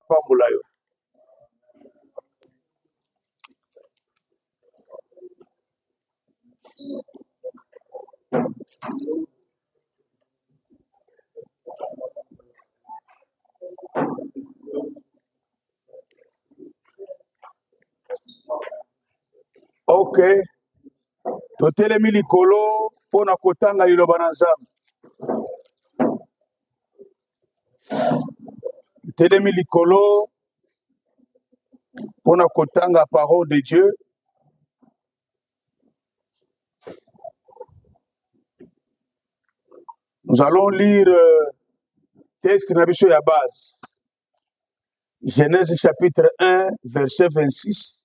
apambola yo ok totelemi likolo mpo na kotanga liloba na nzambe telemi likolo mpo na kotanga parole de dieu nous allons lire euh, texte na biso ya base genèse chapitre 1 verset 26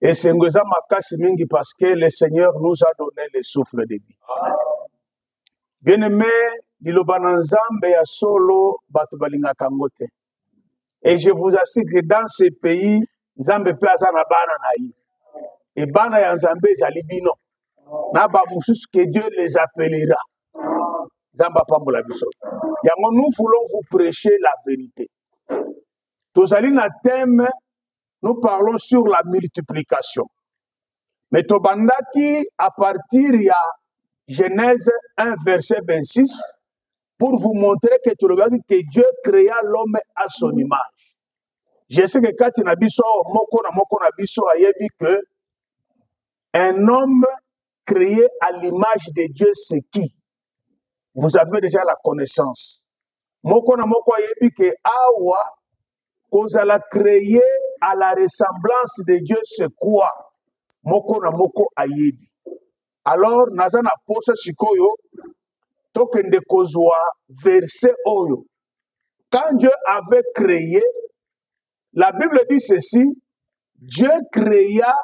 esengo eza makasi mingi parce que le seigneur nous a donné le souffle de vie bien aimé liloba na nzambe ya solo bato balingaka yango te et je vous assure que dans ce pays nzambe mpe aza na bana na ye e bana ya nzambe ezali bino na bamosusu que dieu les appellera nzambe apambola biso yango nous voulons vous prêcher la vérité tozali na thème nous parlons sur la multiplication me tobandaki à partir ya genèse 1 verset 26 pour vous montrer que tolobaki que dieu créa l'homme à son image je sais que kati na biso moko na moko na biso ayebi que un homme créé à l'image de dieu c'est qui vous avez déjà la connaissance moko na moko ayebi ke awa kozala créé à la ressemblance de dieu c'est quoi moko na moko ayebi alors naza na posa sikoyo tokende kozwa verset oyo quand dieu avait créé La Bible dit ceci, Dieu créa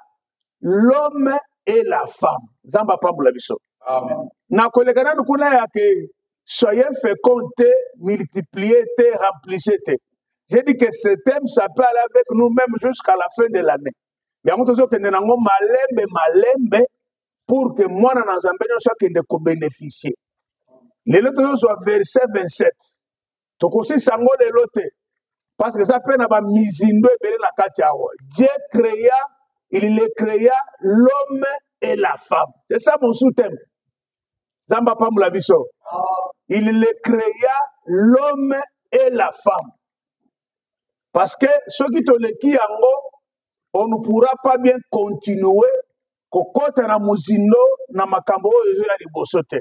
l'homme et la femme. Zamba pambola biso. Amen. Na koleka nanu kuna ya ke soyez féconds te, multipliez te, remplissez te. J'ai dit que ce thème ça peut aller avec nous même jusqu'à la fin de l'année. Yango tozokende nango malembe malembe pour que mwana na Nzambe nyonso akende ko bénéficier. Lelo tozozwa verset 27. tokosisa yango lelo te parce que eza mpe na bamizindo ebele na kati yango dieu créa il le créa l'homme et la femme c'est ça mon sous-thème nzambe apambola biso il le créa l'homme et la femme parce que soki toleki yango on ne pourra pas bien continuer kokɔta na mozindo na makambo oyo ezoya liboso te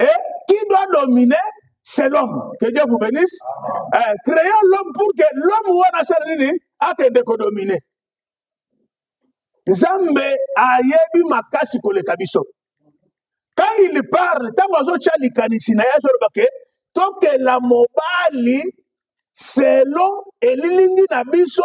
Et qui doit dominer c'est l'homme. Que Dieu vous bénisse. Euh, créons l'homme pour que l'homme wana asaleli akende kodomine. Nzambe ayebi makasi koleka biso. Quand il parle, ntango azotya likanisi na ye azoloba ke tokela mobali selon elilingi na biso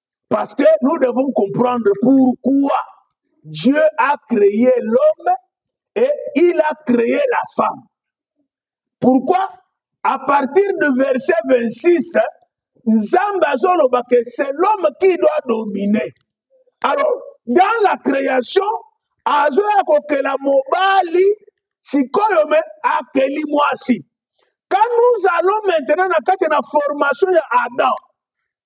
Parce que nous devons comprendre pourquoi Dieu a créé l'homme et il a créé la femme. Pourquoi À partir du verset 26, Zambazoloba que c'est l'homme qui doit dominer. Alors, dans la création, azoya kokela mobali sikoyo me akeli mwasi. Quand nous allons maintenant na kati na formation ya Adam,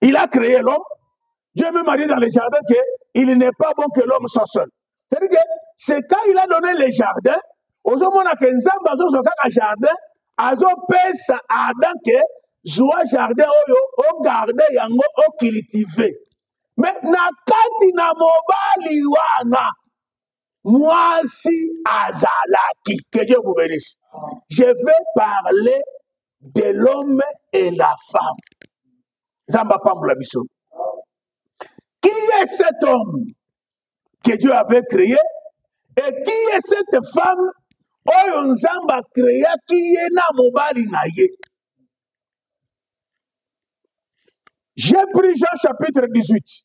Il a créé l'homme. Dieu même a dit dans le jardin qu'il n'est pas bon que l'homme soit seul. C'est-à-dire que c'est quand il a donné le jardin, ozomona ke nzambe azozwa kaka jardin azopesa adam ke zwa jardin oyo ogarde yango ocultive me na kati na mobali wana mwasi azalaki que dieu vous bénisse je vais parler de l'homme et la femme nzambe apambola biso qui est cet homme que dieu avait créé et qui est cette femme oyo nzambe akreaki ye na mobali na ye j'ai pris jean chapitre 18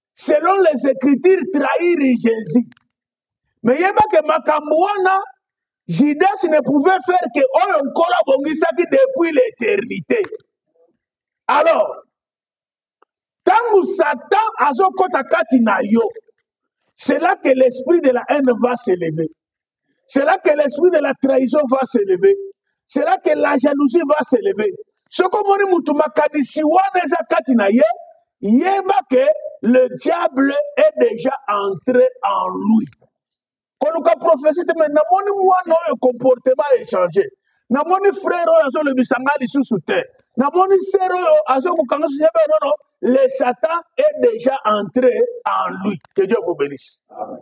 selon les écritures trahir jésus me yebake makambo wana judas ne pouvait faire que oyo nkolo abongisaki depuis l'éternité alors ntango satan azokɔta kati na yo c'est là que l'esprit de la haine va s'élever C'est là que l'esprit de la trahison va s'élever. C'est là que la jalousie va s'élever. Ce que moni mutu makanisi wana eza kati na ye, yeba que le diable est déjà entré en lui. koluka prophesie te me namoni mwana oyo comportement échange namoni frère oyo azolobisa ngai lisusu te namoni sere oyo azokokanga susu yebe nono le satan est déjà entré en lui que dieu vous bénisse Amen.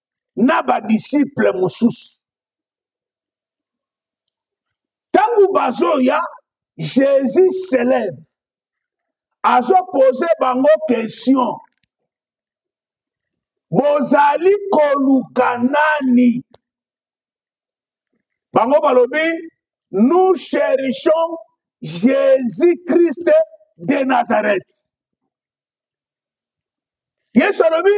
na badisiple mosusu ntango bazoya jésus s'élève azopose bango question bozali koluka nani bango balobi nous cherchons jésus christ de nazareth yesu alobi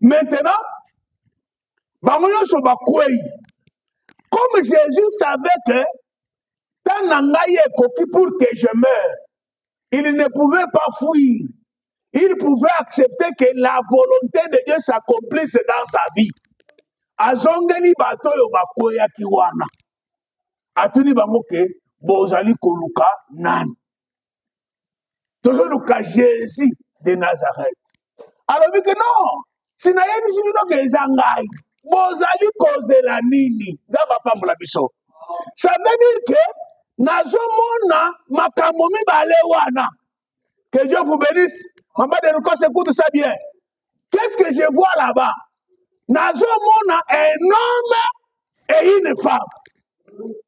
Maintenant, bango nyonso bakwei comme jésus savait que ntango na ngai ekoki pour que je meure il ne pouvait pas fuir il pouvait accepter que la volonté de dieu s'accomplisse dans sa vie azongeli bato oyo bakweyaki wana atuni bango ke bozali koluka nani tozoluka jésus de nazareth alobi ke non sinayebisi bino ke eza ngai bozali kozela nini nzambe apambola biso ça veut dire ke nazomona makambo mibale wana que dieu vous bénisse mama de lucas écoute ça bien qu'est ce que je vois là-bas nazomona un homme et une femme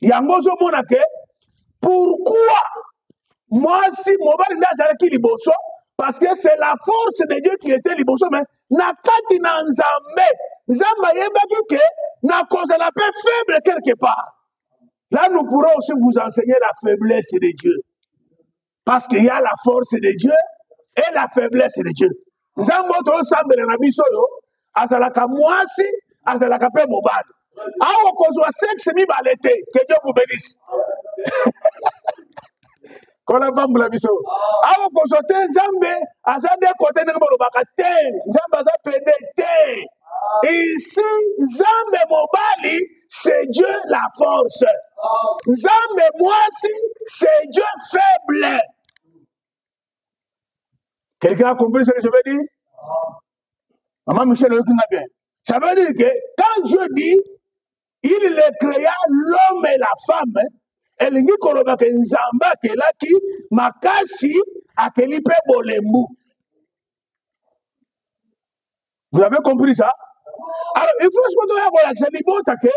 yango ozomona ke pourquoi mwasi mobali nde azalaki liboso parce que c'est la force de dieu qui était liboso mais na kati na nzambe nzambe ayebaki ke nakozala mpe faible quelque part là nous pourrons aussi vous enseigner la faiblesse de dieu Parce qu'il y a la force de Dieu et la faiblesse de Dieu. nzambe oyo tozosambela na biso oyo azalaka mwasi azalaka mpe mobali awa kozwa sexe mibale te que dieu vous bénisse kola pambula biso awa kozwa te nzambe aza nde kote ndenge bolobaka te nzambe aza pende te isi nzambe mobali c'est Dieu la force. Nzambe mwasi, c'est Dieu faible. Quelqu'un a compris ce que je veux dire Maman Michel, oyoki nga bien. Ça veut dire que quand Dieu dit, il le créa l'homme et la femme, elingi koloba ke nzambe akelaki makasi akeli mpe bolembu Vous avez compris ça? Alors, il faut ce que tu as libota que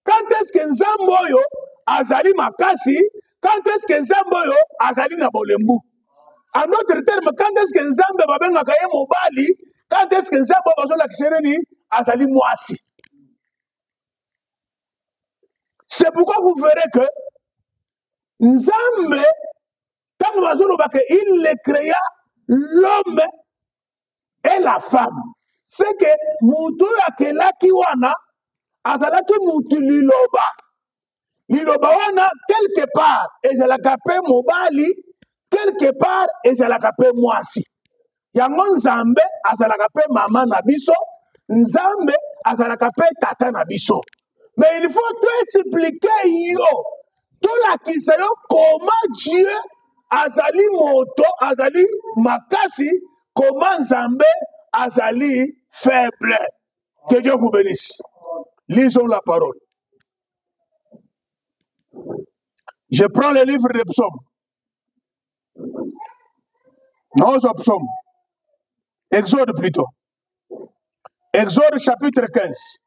quand est-ce que Nzamboyo azali makasi, quand est-ce que Nzamboyo azali na bolembu. En d'autres termes, quand est-ce que Nzambe babengaka ye mobali, quand est-ce que Nzambe bazolakisa ye nini azali mwasi. C'est pourquoi vous verrez que Nzambe ntango bazoloba ke il le créa l'homme et la femme c'est que moto oyo akelaki wana azalaki motu liloba liloba wana quelque part ezalaka mpe mobali quelque part ezalaka mpe mwasi yango nzambe azalaka mpe mama na biso nzambe azalaka mpe tata na biso me il faut toexplike yo tolakisa yo koma dieu azali moto azali makasi koma nzambe azali faible que dieu vous bénisse lisons la parole je prends le livre de psaume naozwa psaume exode plutôt exode chapitre 15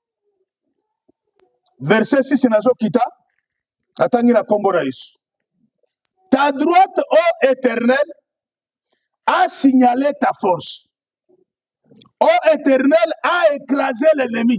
verset 6 nazokita natangi na nkombo na yesu ta droite o éternel a signalé ta force o éternel a écrasé l'ennemi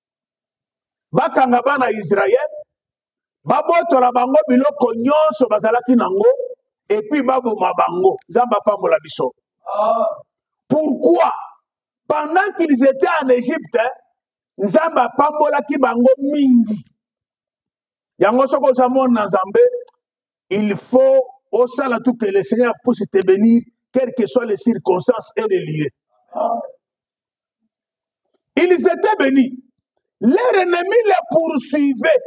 bakanga bana ya Israele, babotola bango biloko nyonso bazalaki nango, epuis baboma bango. Nzambe apambola biso. Pourquoi? Pendant qu'ils étaient en Égypte, Nzambe apambolaki bango mingi. Yango soki oza mona na Nzambe, Il faut osala tout que le Seigneur puisse te bénir, quelles que soient les circonstances et les lieux. Ils étaient bénis. Leur ennemi les poursuivait.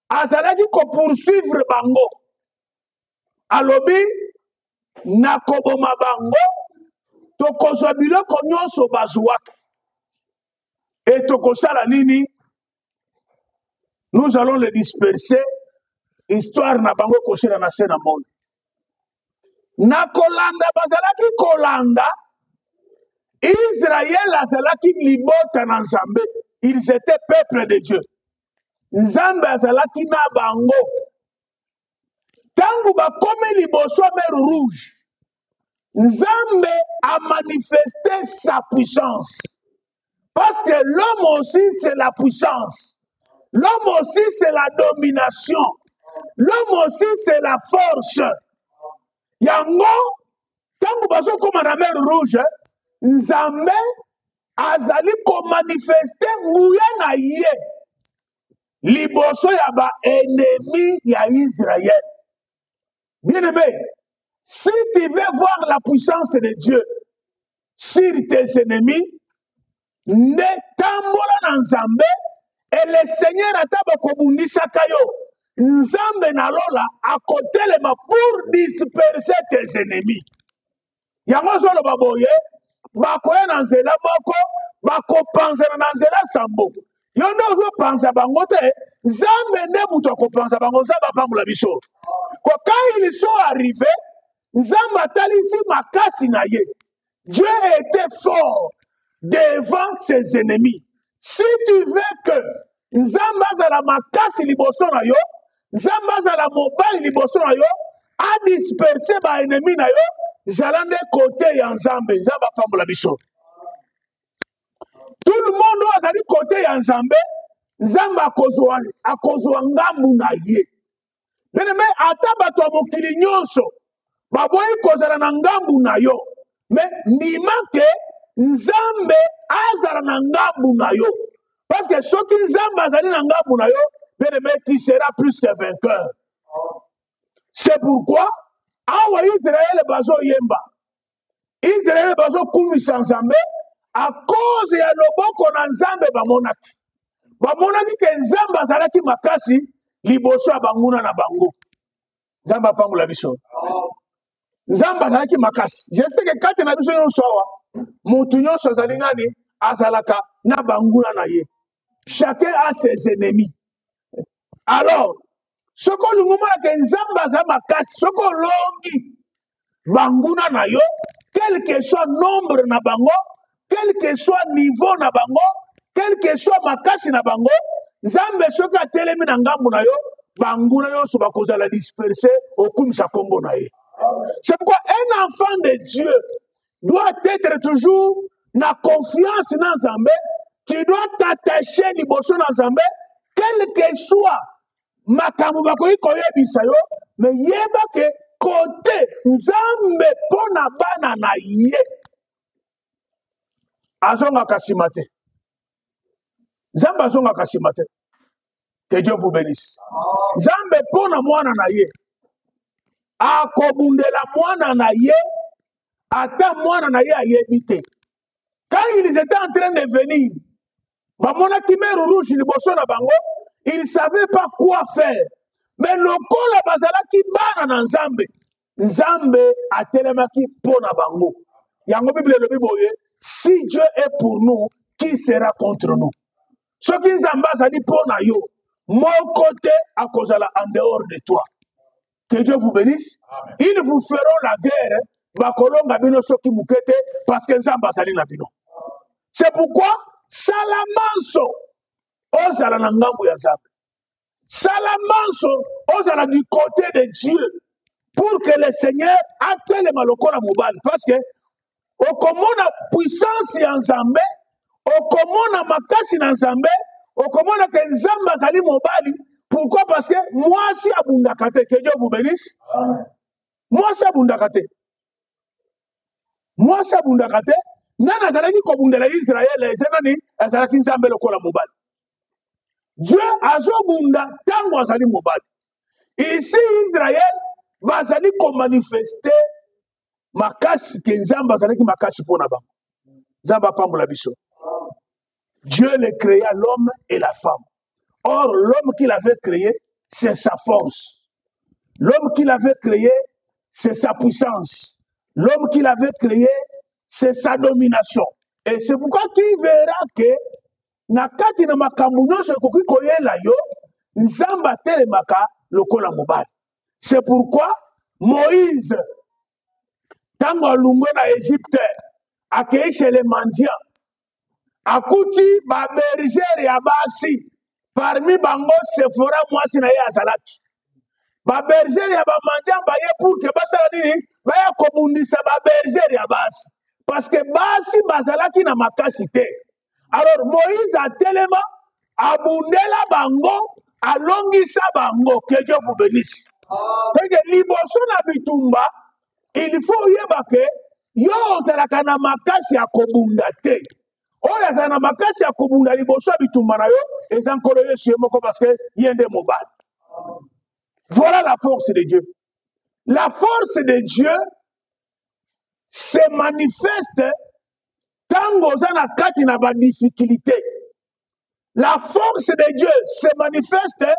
azalaki kopoursuivre bango alobi nakoboma bango tokozwa biloko nyonso bazwaka Et tokosala nini? Nous allons les disperser. Histoire na bango ekosila na se na moi. Na kolanda bazalaki kolanda Israël azalaki libota na Nzambe. Ils étaient peuple de Dieu. Nzambe azalaki na bango. Tango bakomi liboso mer rouge Nzambe a manifesté sa puissance. Parce que l'homme aussi, c'est la puissance. L'homme aussi, c'est la domination. L'homme aussi, c'est la force. Yango, ntango bazokoma na mer rouge, Nzambe azali komanifeste nguya na ye liboso ya baenemi ya Israël. Bien aimé, si tu veux voir la puissance de Dieu sur tes ennemis, nde tambola na Nzambe et le Seigneur ata bakobundisaka yo Nzambe na lola akotelema pour disperser tes ennemis. yango azoloba boye bakoya na nzela moko bakopanzana na nzela sambo yo nde ozopanza bango te nzambe nde moto akopanza bango nzambe apambola biso kokai liso arrive nzambe atalisi makasi na ye dieu était fort devant ses ennemis si tu veux que nzambe azala makasi liboso na yo nzambe azala mobali liboso na yo adisperse baennemi na yo zala nde kote ya nzambe nzambe apambola biso tout le monde oyo azali kote ya nzambe nzambe akozwa ngambu na ye Bien-aimé, ata bato ya mokili nyonso baboyi kozala na ngambu na yo. Mais ndima ke Nzambe azala na ngambu na yo. Parce que soki Nzambe azali na ngambu na yo, bien-aimé, tu seras plus que vainqueur. C'est pourquoi awa Israël bazoyemba Israël bazo kumisa Nzambe à cause ya loboko na Nzambe bamonaki. Bamonaki ke Nzambe azalaki makasi liboso ya banguna na bango. Nzambe apambola biso. Nzambe azalaki makasi. Je sais que kati na biso nyonso awa, mutu nyonso azali nani? Azalaka na banguna na ye. chacun a ses ennemis alors soki olingi omona ke nzambe aza makasi soki olongi banguna na yo quelque soit nombre na bango quelque soit niveau na bango quelque soit makasi na bango nzambe soki atelemi na ngambo na yo banguna nyonso bakozala disperse okumisa nkombo na ye c'est pourquoi un enfant de dieu doit être toujours na confiance na nzambe tu dois t'attacher liboso na nzambe quelque soit makambo bakoki koyebisa yo me yeba ke kote nzambe mpo na bana na ye azongaka nsima te nzambe azongaka nsima te que dieu vous benisse nzambe mpo na mwana na ye akobundela mwana na ye ata mwana na ye ayebi te quand ils étaient en train de venir bamonaki mer rouge liboso na bango ils savait pas quoi faire mais lokola bazalaki bana na nzambe nzambe atelemaki mpo na bango yango biblia elobi boye si dieu est pour nous qui sera contre nous soki nzambe azali mpo na yo moko te akozala en dehors de toi que dieu vous bénisse ils vous feront la guerre bakolonga bino soki moke te parce que nzambe azali na bino c'est pourquoi sala manso ozala na ngambo ya nzambe sala manso ozala du côté de dieu pour que le seigneur atelema lokola mobali parce que okomona puissance ya nzambe okomona makasi na nzambe okomona ke nzambe azali mobali pourquoi parce que mwasi abundaka te que dieu vous benisse mwasi abundaka te mwasi abundaka te nani azalaki kobundela israele eza nani azalaki nzambe lokola mobali dieu azobunda ntango azali mobali isi israele bazali komanifeste makasi ke nzambe azalaki makasi mpo na bango nzambe apambola biso dieu le créa l'homme et la femme or l'homme qu'il avait créé c'est sa force l'homme qu'il avait créé c'est sa puissance l'homme qu'il avait créé c'est sa domination et c'est pourquoi tu verras que na kati na makambo nyonso ekoki koyela yo nzambe atelemaka lokola mobali c'est pourquoi moïse ntango alungwe na egypte akei chez le mendiant akuti babergere ya basi parmi bango sefora mwasi na ye azalaki babergere ya bamandian baye pour ke basala nini baya kobundisa babergere ya basi parce que basi bazalaki na makasi te alors moïse atelema abundela bango alongisa bango que dieu vous bénisse peke liboso na bitumba il faut oyeba ke yo ozalaka na makasi ya kobunda te oyo azala na makasi ya kobunda liboso ya bitumba na yo eza nkolo yesu ye moko parce que ye nde mobali voilà la force de dieu la force de dieu se manifeste ntango oza na kati na badifficulté la force de dieu se manifeste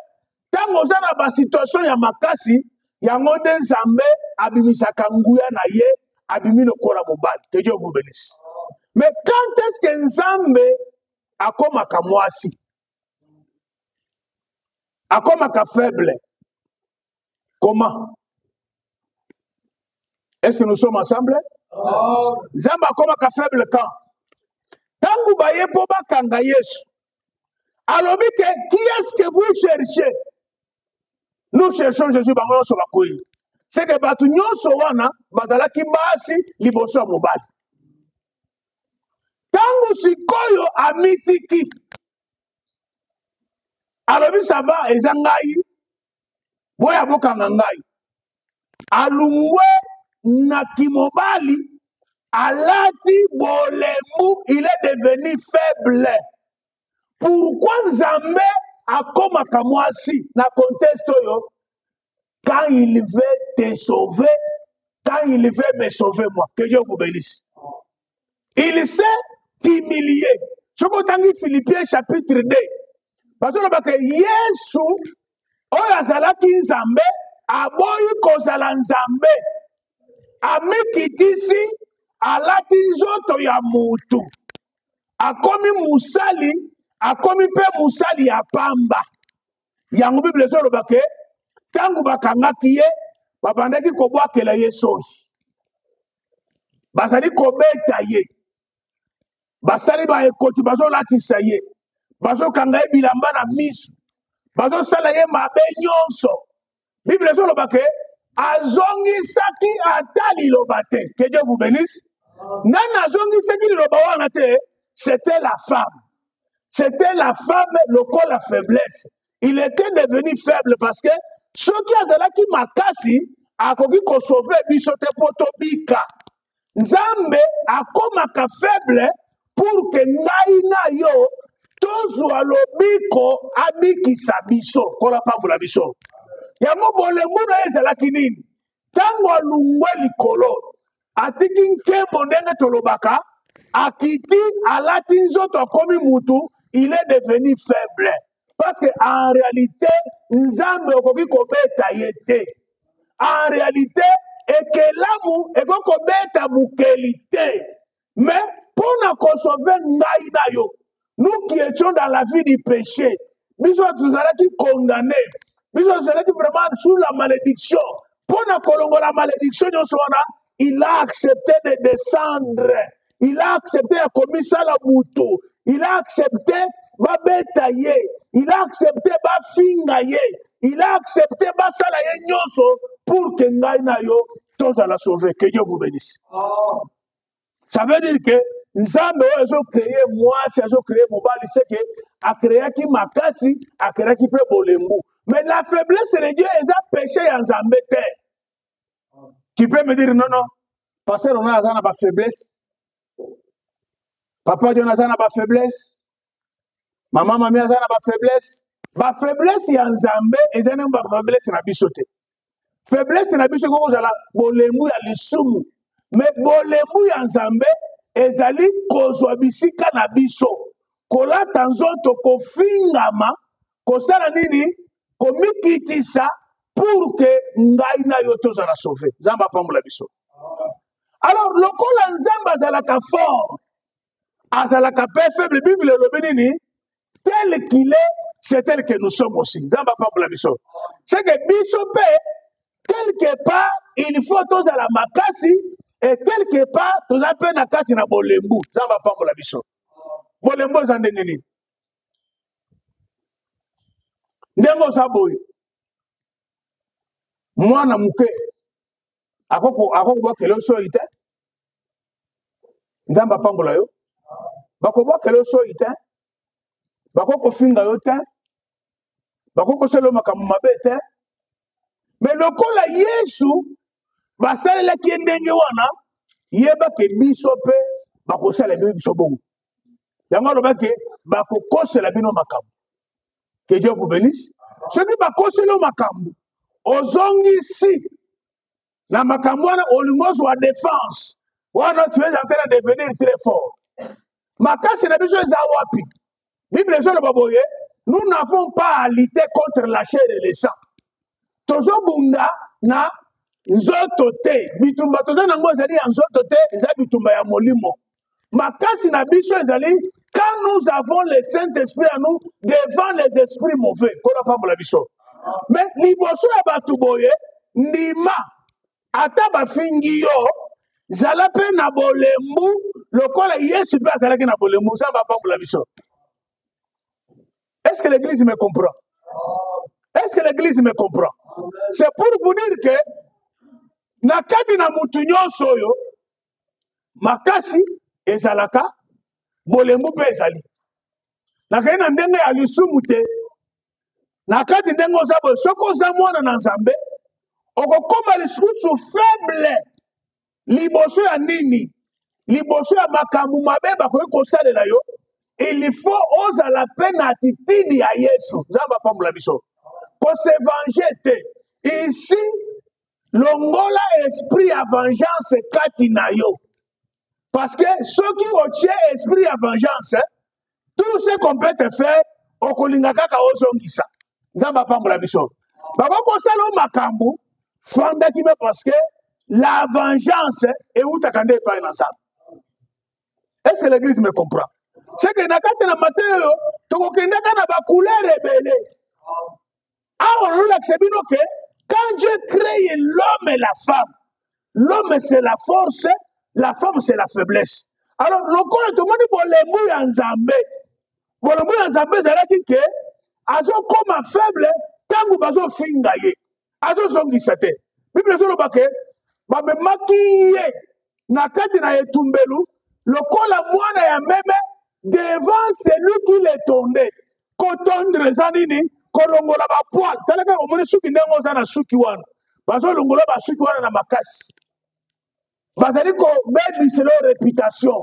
ntango oza na basituation ya makasi yango nde nzambe abimisaka nguya na ye abimi lokola mobali que dieu vous benisse mais quand est ce que nzambe akomaka mwasi akomaka faible Comment Est-ce que nous sommes ensemble oh. Zamba comme un faible camp. Tangu baye po bakanga Yesu. Alors que qui est-ce que vous cherchez Nous cherchons Jésus bango nyonso bakoyi. C'est que bato nyonso wana bazalaki basi liboso ya mobali. Tangu sikoyo amitiki alobi sava eza ngai boya bokanga ngai alungwe na kimobali alati bolembu il est devenu faible pourkui nzambe akomaka mwasi na conteste oyo quand il veut te sauver quand il veut me sauver moi que dieu vous bénisse il s'est humilié soki otangi philippien chapitre 2 bazolobaka yesu oyo azalaki nzambe aboyi kozala nzambe amikitisi alati nzoto ya mutu akomi mosali akomi mpe mosali ya pamba yango biblia ezoloba ke ntango bakangaki ye babandaki kobwakela ye soi bazali kobeta ye basali baekoti bazolatisa ye bazokanga ye bilamba na miso bazosala ye mabe nyonso biblia ezoloba ke azongisaki ata liloba te ke dieu vous benisse nani azongisaki liloba wana te c'était la femme c'était la femme lokola faiblesse il était devenu faible parce que soki azalaki makasi akoki kosove biso te mpo tobika nzambe akomaka faible pour que ngai na yo tozwa lobiko abikisa biso nkolo apambola biso yango bolembu na ye ezalaki nini ntango alungwe likolo atiki nkembo ndenge tolobaka akiti alati nzoto akomi mutu il est devenu faible parce que en réalité nzambe okoki kobeta ye te en réalité ekelamu ekoki kobeta mokeli te mais mpo na kosove ngai na yo nous qui étions dans la vie du péché biso tozalaki condamné biso tozalaki vraiment sous la malédiction mpo na kolongola malédiction nyonso wana il a accepté de descendre il a accepté ya komisala motu il a accepté babeta ye il a accepté bafinga ye il a accepté basala ye nyonso pour ke ngai na yo tozala sauve que dieu vous bénisse oh. ça veut dire que nzambe oyo azokreye mwasi azokreye mobali seke akreyaki makasi akreyaki mpe bolembu mais la faiblesse de dieu eza péché ya nzambe te qui peut me dire non non pasteur ona aza na bafaiblesse papa dion aza na bafaiblesse mama mami aza na bafaiblesse bafaiblesse ya nzambe eza nde bafaiblesse na biso te faiblesse na biso ekoki kozala bolembu ya lisumu me bolembu ya nzambe ezali kozwa bisika na biso kolata nzoto kofingama kosala nini komikitisa pour ke ngai na yo tozala sauve nzambe apambola biso alors lokola nzambe azalaka fort azalaka mpe faible bible elobi nini tel qu'il est c'est tel que nous sommes aussi nzambe apambola biso c'est que biso mpe quelque part il faut tozala makasi e quelque part toza mpe na kati na bolembu nzambe apambola biso bolembu eza ndenge nini ndenge oza boye mwana moke akokobakela yo soyi te nzambe apambola yo bakobwakela yo soi te bakoki kofinga yo te bakoki kosala yo makambo mabe te me lokola yesu basalelaki ye ndenge wana yebake biso mpe bakosala bino biso bongo yango alobaki bakokosela bino makambo ke dieu vous benisse soki bakoseli yo makambo ozongisi na makambo wana olingi ozwa defense wana tu es en train de devenir très fort makasi na biso eza wapi bible ezoloba boye nous n'avons pas à lutter contre la chair et le sang tozobunda na nzoto te bitumba toza nango ezali ya nzoto te eza bitumba ya molimo makasi na biso ezali quand nous avons le saint esprit à nous devant les esprits mauvais nkolo apambola biso mais liboso ya bato boye ndima ata bafingi yo zala mpe na bolembu lokola yesu mpe azalaki na bolembu nzambe apambola biso est ce que l'église me comprend est ce que l'église me comprend c'est pour vous dire que na kati na motu nyonso oyo makasi ezalaka bolembu mpe ezali nakei na ndenge ya lisumu te na kati ndenge oza boye soki oza mwana na nzambe okokoma lisusu faible liboso ya nini liboso ya makambo mabe bakoki kosalela yo il faut ozala mpe na atitidi ya yesu nzambe apambola biso kosevange te isi longola esprit ya vengeance kati na yo parce que soki otie esprit ya vengeance tout ce qu'on peut te faire okolinga kaka ozongisa nzambe apambola biso bakoki kosala o makambo fanda kime parce que la vengeance ewutaka nde epai na nzambe est ce que l'église me comprend seke na kati na mateyo tokokendaka na bacouleur ebele awa nazolakisa bino ke quand dieu cree l'homme et la femme l'homme c'est la force la femme c'est la faiblesse alors lokola tomoni bolembu ya nzambe bolembu ya nzambe ezalaki ke azokoma faible ntango bazofinga ye azozongisa te biblia ezoloba ke bamemaki ye na kati na etumbelu lokola mwana ya meme devant celui qui le tonde kotondre eza nini kolongola bapoil tala kaka omoni suki ndenge oza na suki wana bazolongola basuki wana na makasi bazali kobebisa yo reputation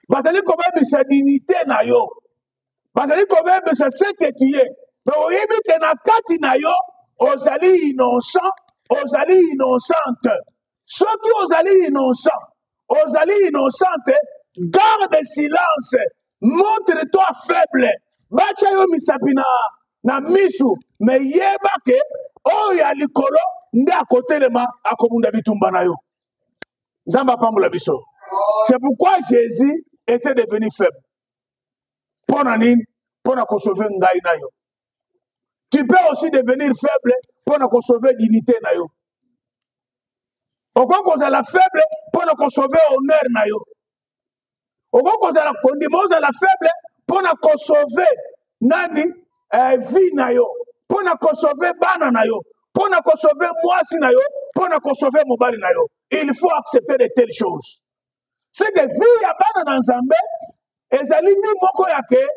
bazali kobebisa dignité na yo bazali kobebisa seke tuye me oyebi te na kati na yo ozali innocent ozali innocente soki ozali innocent ozali innocente garde silence montre toi faible batya yo misapi na, na misu me yeba ke oyo ya likolo nde akotelema akobunda bitumba na yo nzambe apambola biso c'est pourquoi jésus était devenu faible mpo na nini mpo na kosove ngai na yo qui peut aussi devenir faible mpo na kosauve dignité na yo okoki kozala faible mpo na kosauve honneur na yo okoki kozala kondima ozala faible mpo na kosauve nani eh, vie na yo mpo na kosauve bana na yo mpo na kosauve mwasi na yo mpo na kosauve mobali na yo il faut accepter de telles choses seke vie ya bana na nzambe ezali vie moko ya ke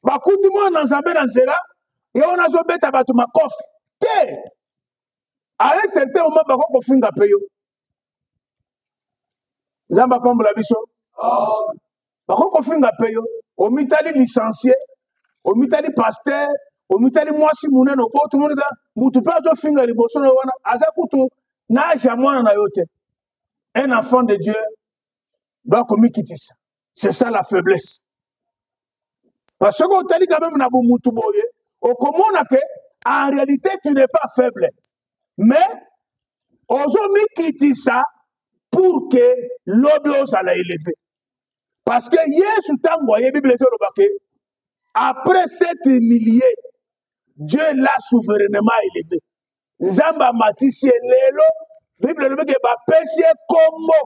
bakuti mwana na nzambe na nzela ye wana azobeta bato makofi te ale certain moma bako kofinga mpe yo nzambe apambola biso bako kofinga mpe yo omitali licencie omitali paster omitali mwasi monene oboto monika motu mpe azofinga liboso na yo wana aza kutu na age ya mwana na yo te un enfant de dieu doit komikitisa c'est ça la faiblesse parce que otali quand même na bomutu boye okomona ke en réalité tu n'es pas faible mais ozomikitisa pour ke lobi ozala eleve parce que yesu ntango aye bible ezoloba ke après cette humilié dieu l'a souverainement élevé nzambe amatisi ye lelo bible elobi ke bapesi ye nkombo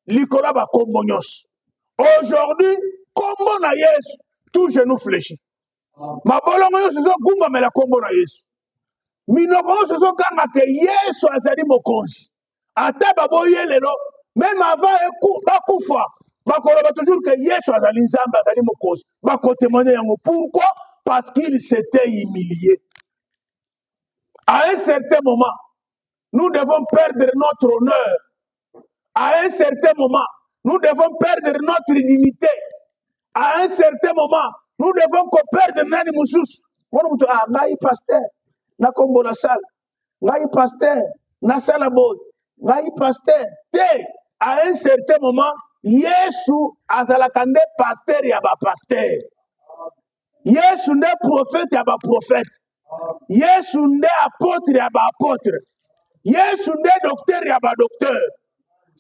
likolo ya bankombo nyonso aujourd'hui nkombo na yesu tout genou flechi mabolongo nyonso ezogumbamela nkombo na yesu minoko nyonso ezoganga ke yesu azali mokonzi ata baboye lelo meme avant bakufa bakoloba toujours ke yesu azali nzambe azali mokonzi bakotemone yango pourquoi parce qu'il s'était humilié À un certain moment, nous devons perdre notre honneur. À un certain moment, nous devons perdre notre dignité. À un certain moment, nous devons perdre nani mususu. Mwana mutu ah ngai pasteur na kombo na sala. Ngai pasteur na sala boy. Ngai pasteur te à un certain moment Yesu azalaka nde pasteur ya ba pasteur. yesu nde profete ya baprofete yesu nde apotre ya baapotre yesu nde doktere ya badoktere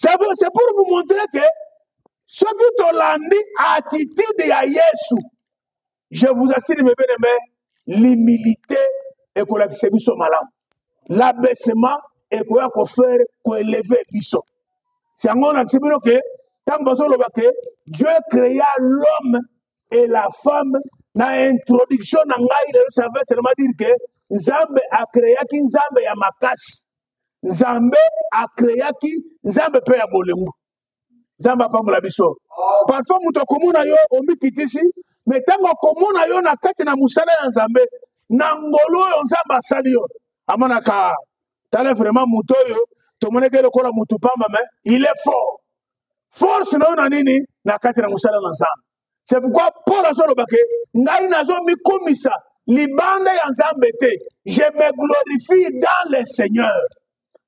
c'est pour vous montrer que soki tolandi attitude ya yesu je vous assure mes bien aimé l'humilité ekolakisa biso malamu l'abaissement ekoya kofere koeleve biso yango olakisi bino ke ntango bazoloba ke dieu créa l'homme et la femme na introduction na ngai lelo ça veut seulement dire que nzambe akreaki nzambe ya makasi nzambe akreaki nzambe mpe ya bolingo nzambe apambola biso parfois moto akomona yo omikitisi me ntango akomona yo na kati na mosala ya nzambe na ngolu oyo nzambe asali yo amonaka tala vraiment moto oyo tomoneke lokola motu pamba me il est fort force na yo na nini na kati na mosala na nzambe c'est pourquoi paul azoloba ke ngai nazomikumisa libanda ya nzambe te je me glorifie dans le seigneur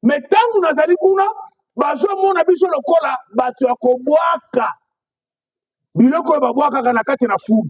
me ntango nazali kuna bazomona biso lokola bato ya kobwaka biloko oyo babwakaka na kati na fulu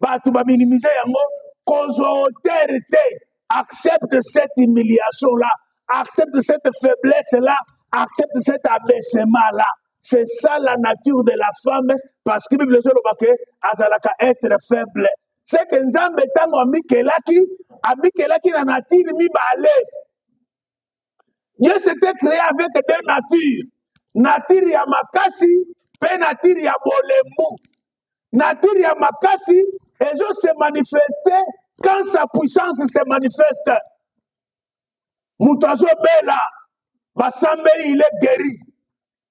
bato ba minimize yango kozwa hauteur te accepte cette humiliation là accepte cette faiblesse là accepte cet abaissement là c'est ça la nature de la femme parce que bible ezoloba ke azalaka être faible c'est que nzambe ntango amikelaki amikelaki na natire mibale Dieu s'était créé avec deux natures. Nature ya makasi mpe nature ya bolembu. Nature ya makasi ezo se manifester quand sa puissance se manifeste. Moto azobela basambeli il est guéri.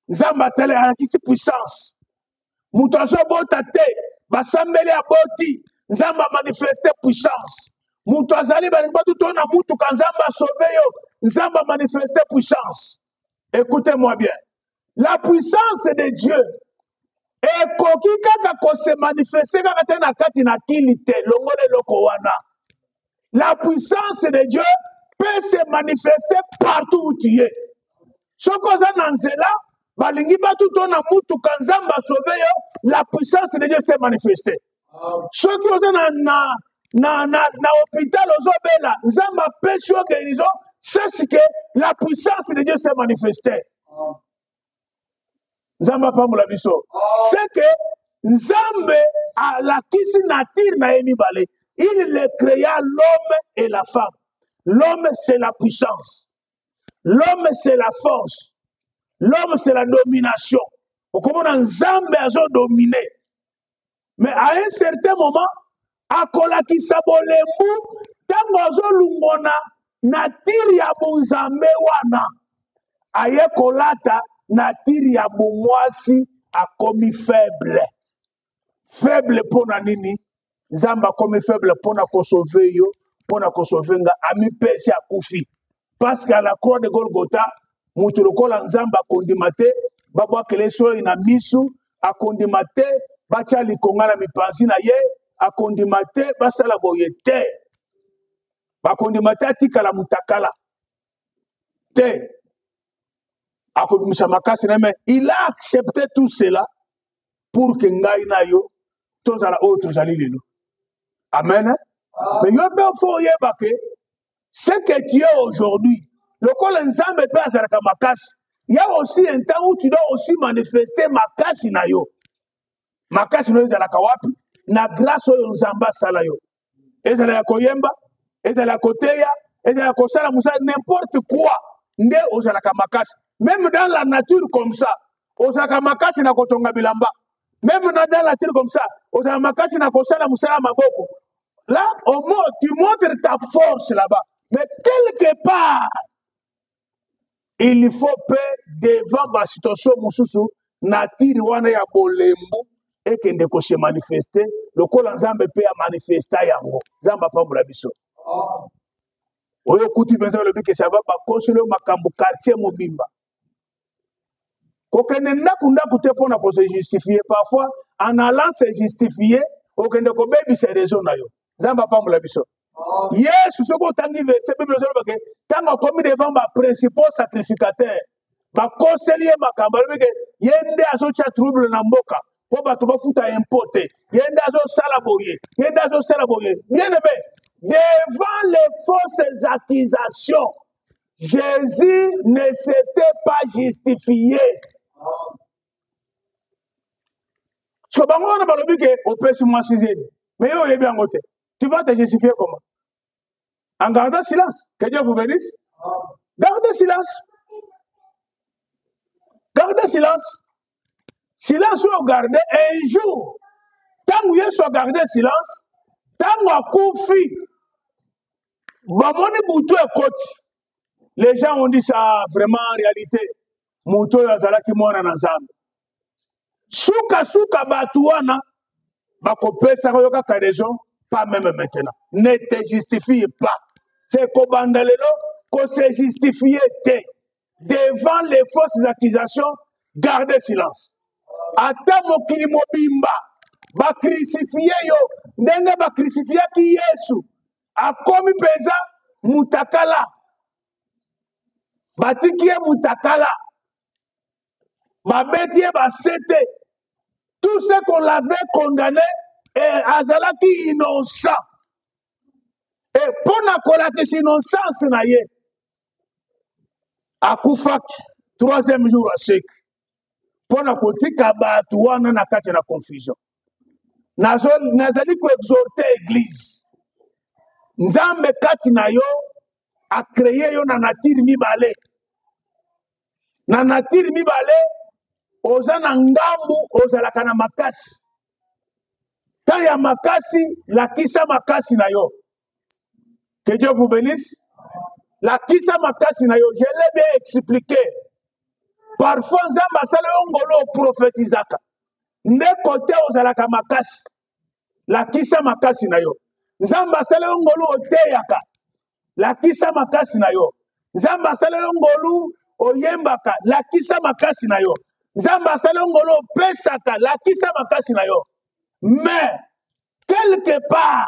nzambe atale alakisi puissance moto azobota te basambeli aboti nzambe amanifeste puissance moto azali balingi batu to na mutuka nzambe asauve yo nzambe amanifeste puissance écoutez moi bien la puissance de dieu ekoki kaka kose manifeste kaka te na kati na kili te longola eloko wana la puissance de Dieu peut se manifester partout où tu es. Ce qu'on a dans Zéla, balingi batu to na mutu kanzamba sauver la puissance de Dieu s'est manifestée. Ce qu'on a na na na na, na hôpital ozo bela, nzamba pesi yo guérison, sache que la puissance de Dieu s'est manifestée. nzambe apambola biso seke nzambe alakisi natire na ye mibale il le créa l'homme et la femme l'homme c'est la puissance l'homme c'est la force l'homme c'est la domination okomona nzambe azodomine mais à un certain moment akolakisa bolembu ntango azolungona natire ya bonzambe wana aye kolata natire ya bomwasi akomi faible faible mpo na nini nzambe akomi faible mpo na kosove yo mpo na kosove nga amipesi akufi parce que à la croix de golgotha moto lokola nzambe akondima te babwakele soyi na misu akondima te batya likonga na mipanzi na ye akondima te basala boye te bakondima te atikala mutakala te akobimisa makasi na ye mais il a accepté tout cela pour que ngai na yo tozala oyo tozali lelo amen me yo mpe ofo oyeba ke ce que tu es aujourd'hui lokola nzambe mpe azalaka makasi ya aussi un temps où tu dois aussi manifester makasi na yo makasi na yo ezalaka wapi na grâce oyo nzambe asala yo ezala ya koyemba ezala ya koteya ezala ya kosala mosala n'importe quoi nde ozalaka makasi meme dans la nature comme ça ozalaka makasi na kotonga bilamba meme na dans la nature comme ça ozalaka makasi na kosala mosala ya maboko Là, au moins, tu montres ta force là-bas. Mais quelque part, il faut pe devant ma situation mosusu natiri wana ya bolembu ekende kose manifeste lokola nzambe mpe ya manifesta yango nzambe apambola biso oyo okuti mpenza olobi ke sava bakoseli yo makambo quartier mobimba kokende ndako ndako te mpo na ko se justifier parfois en allant se justifier okende kobebisa réseau na yo nzambe apambola biso yesu soki otangi verse bible ozoloba ke ntango akomi devant baprincipal sacrificateur bakoseli ye makambo alobi ke ye nde azotya trouble na mboka mpo bato bafuta impo te ye nde azosala boye ye nde azosala boye bien aime devant les fausses accusations Jésus ne s'était pas justifié. Parce que bango wana balobi ke opesi mwasi zeli mais yo oyebi yango te tu vas te justifier comment en gardant silence que Dieu vous bénisse garde silence garde silence silence oyo garde un jour ntango yesu agarde silence ntango akufi bamoni butu ekoti les gens ont dit ça vraiment en réalité moto oyo azalaki mwana na nzambe sukasuka bato wana bakopesaka yo kaka raison pas meme maintenant ne te justifie pas se kobanda lelo kose justifie te devant les fausses accusations garde silence ata mokili mobimba bakrisifie yo ndenge bakrisifiaki yesu akomi mpenza mutakala batiki ye mutakala babeti ye basete tout ce qu'on l'avait condamné eh, azalaki innocent e mpo na kolakisa innocence na ye akufaki troisième jour aseki mpo na kotika bato wana na kati na confusion nazali koexorte eglize nzambe kati na yo akreye yo na natire mibale na natire mibale oza na ngambu ozalaka na makasi ntango ya makasi lakisa makasi na yo Que Dieu vous bénisse. La kisa makasi na yo, je l'ai bien expliqué. Parfois, Nzamba asala yo ngolo prophétisaka. Nde kote ozalaka makasi. La kisa makasi na yo. Nzamba asala yo ngolo oteyaka. La kisa makasi na yo. Nzamba asala yo ngolu oyembaka. La kisa makasi na yo. Nzamba asala yo ngolo opesaka. La kisa makasi na yo. Mais, quelque part,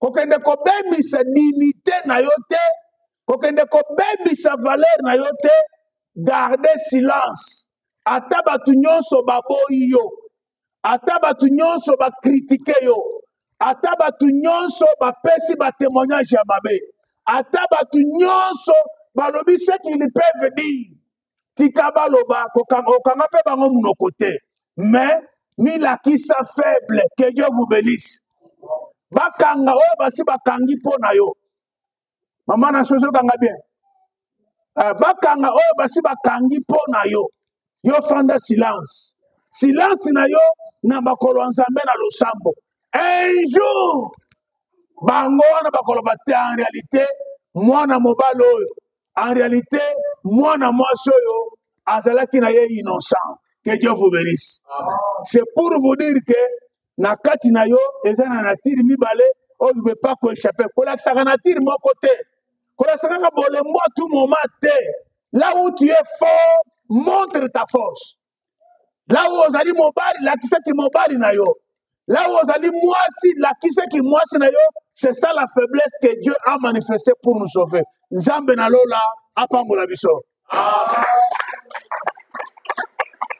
kokende kobebisa dignité na yo te kokende kobebisa valeur na yo te garde silence ata bato nyonso baboyi yo ata bato nyonso bakritike yo ata bato nyonso bapesi batemoignage ya mabe ata bato nyonso balobi ce qu'ils peuvent dire tika baloba okanga mpe bango monoko te mais milakisa faible que dieu vous benisse bakanga oyo basi bakangi mpo na yo mama na soso okanga bien eh, bakanga oyo basi bakangi mpo na yo yo fanda silence silence na yo na makolo ya nzambe na losambo un jour bango wana bakoloba te en réalité mwana mobali oyo en réalité mwana mwasi oyo azalaki na ye innocente que dieu vous bénisse c'est pour vous dire que na kati na yo eza na natire mibale oyo ne peut pas koechappe kolakisaka natire moko te kolakisaka kaka bolembo tout moment te là où tu es fort montre ta force lawo ozali mobali lakisa kimobali na yo lawo ozali mwasi lakisa kimwasi na yo c'est ça la faiblesse que dieu a manifesté pour nous sauver nzambe na lola apambola biso Amen.